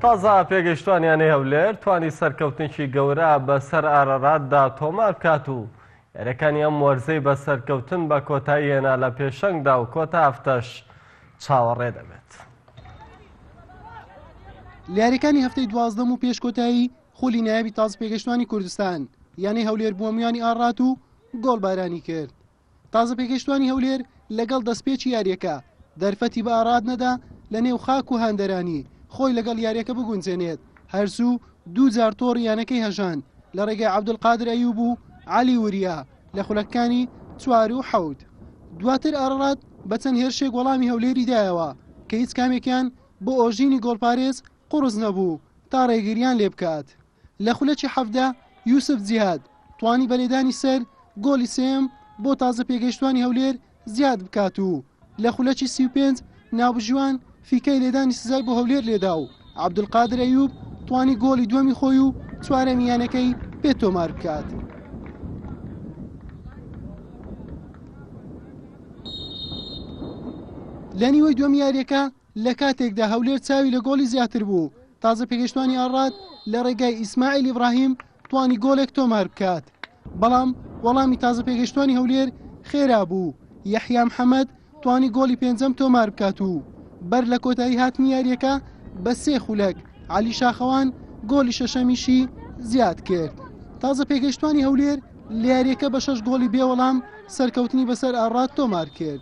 تازە پێگەیشتوانیانەی هەولێر توانی سەرکەوتنێکی گەورە بەسەر ئارەراتدا تۆمار بکات و یاریەکانی ئەم وەرزەی بە سەرکەوتن بە کۆتایی هێنا لە پێشەنگدا و کۆتا هەفتەش چاوەڕێ دەبێت. لیاریەکانی هەفتەی دوازدەم و پێشکۆتایی خولی نایابی تاز پێگەشتوانی کوردستان یانەی هەولێر بووە میانی ئاڕات و گۆڵبارانی کرد تازەپێگەیشتووانی هەولێر لەگەڵ دەستپێکی یارییەکە، دەرفەتی بە ئاراد نەدا لەنێو خاک و هاندەرانی خۆی لەگەڵ یارییەکە بگونجێنێت، هەرزوو دوو جار تۆڕی یانەکەی هەژاند لە ڕێگای عەبدولقادر ئەیوب و عەلی وریا لە خولەکەکانی چوار و حەوت. دواتر ئاراد بە چەند هێرشێک وەڵامی هەولێری دایەوە کە هیچ کامێکیان بۆ ئۆژینی گۆڵپارێز قوڕس نەبوو تا ڕێگرییان لێبکات. لە خولەکی حەڤدە یوسف جیهاد توانی بە لێدانی سەر گۆڵی سێیەم بۆ تازە پێگەیشتوانی هەولێر زیاد بکات و لە خولەکی سی و پێنج ناوبژیوان فیکەی لێدانی سزای بۆ هەولێر لێدا و عەبدولقادر ئەیوب توانی گۆڵی دووەمی خۆی و چوارەمی یانەکەی پێ تۆمار بکات. لە نیوەی دووەمی یاریەکە لە کاتێکدا هەولێر چاوی لە گۆڵی زیاتر بوو، تازە پێگەیشتوانی ئاڕات لە ڕێگای ئیسماعیل ئیبراهیم توانی گۆڵێک تۆمار بکات، بەڵام وەڵامی تازە پێگەیشتوانی هەولێر خێرا بوو، یەحیا محەمەد توانی گۆڵی پێنجەم تۆمار بکات و بەر لە کۆتایی هاتنی یارییەکە بە سێ خولەک، عەلی شاخەوان گۆڵی شەشەمیشی زیاد کرد. تازە پێگەیشتوانی هەولێر لە یارییەکە بە شەش گۆڵی بێ وەڵام سەرکەوتنی بەسەر ئاڕات تۆمار کرد.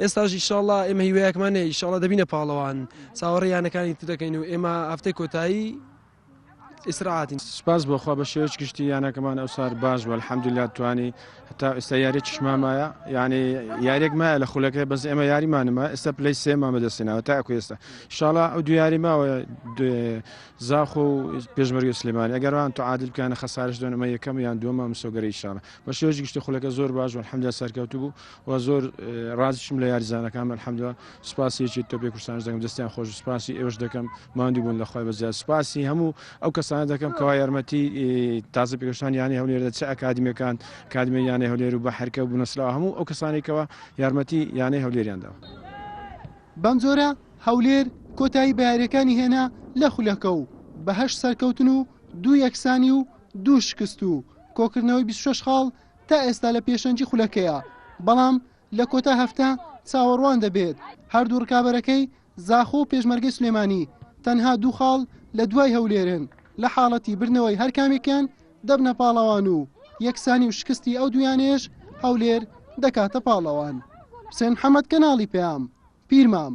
ئێستاش ئیشاڵا ئێمە هیوایەکمان هەیە ئیشاڵا دەبینە پاڵەوان چاوەڕێ یانەکانی تر دەکەین و ئێمە هەفتەی کۆتایی ئیسراعاتین سپاس بۆخوا بە شێوەش گشتی یانەکەمان ئەو سار باش بە الحەمدللا توانی هەتا ئێستا یاری چشمامایە یعنی یاریێک مایە لە خولەکە بەس ئێمە یاریمانمە ئێستا پلی سێما بەدەستێنەوە تاکو ئێستا شاڵا ئەو دو یاری ماوە زاخ و پێشمەرگی سلێمانی ئەگەران تو عادل بکەنە خەسارش دۆنەمە یەکەم یان دووەمە مسۆگەری شاڵە بە شێوەش گشتی خولەکە زۆر باش و الحەمدا سەرکەوتو بوو و زۆر ڕازیشم لە یاریزانەکانم الحمدللە سوپاسی یەکێتی تۆپی کوردستانیش دەکەم دەستیان خۆش سوپاسی ئێوەش دەکەم ماندوو بوون لە خۆی بەزیاد سوپاسی هەموو ئەو کەسانە دەکەم کەوا یارمەتی تازە پێگەشتان یانەی هەولێر دە چ ئەکادیمیەکان کادمی یانەی هەولێر و بە حرکە و بنەسرا هەموو ئەو کەسانێکەوە یارمەتی یانەی هەولێریان داوە بەم جۆرە هەولێر کۆتایی بە یاریەکانی هێنا لە خولەکە و بە هەشت سەرکەوتن و دوو یەکسانی و دوو شکست و کۆکردنەوەی 26 خاڵ تا ئێستا لە پێشەنگی خولەکەیە، بەڵام لە کۆتا هەفتە چاوەڕوان دەبێت هەردوو رکابەرەکەی زاخۆ و پێشمەرگەی سلێمانی تەنها دوو خاڵ لە دوای هەولێرن لە حاڵەتی بردنەوەی هەرکامێکیان دەبنە پاڵەوان و یەکسانی و شکستی ئەو دوویانەیش هەولێر دەکاتە پاڵەوان. حوسێن محەمەد کەناڵی پەیام، پیرمام.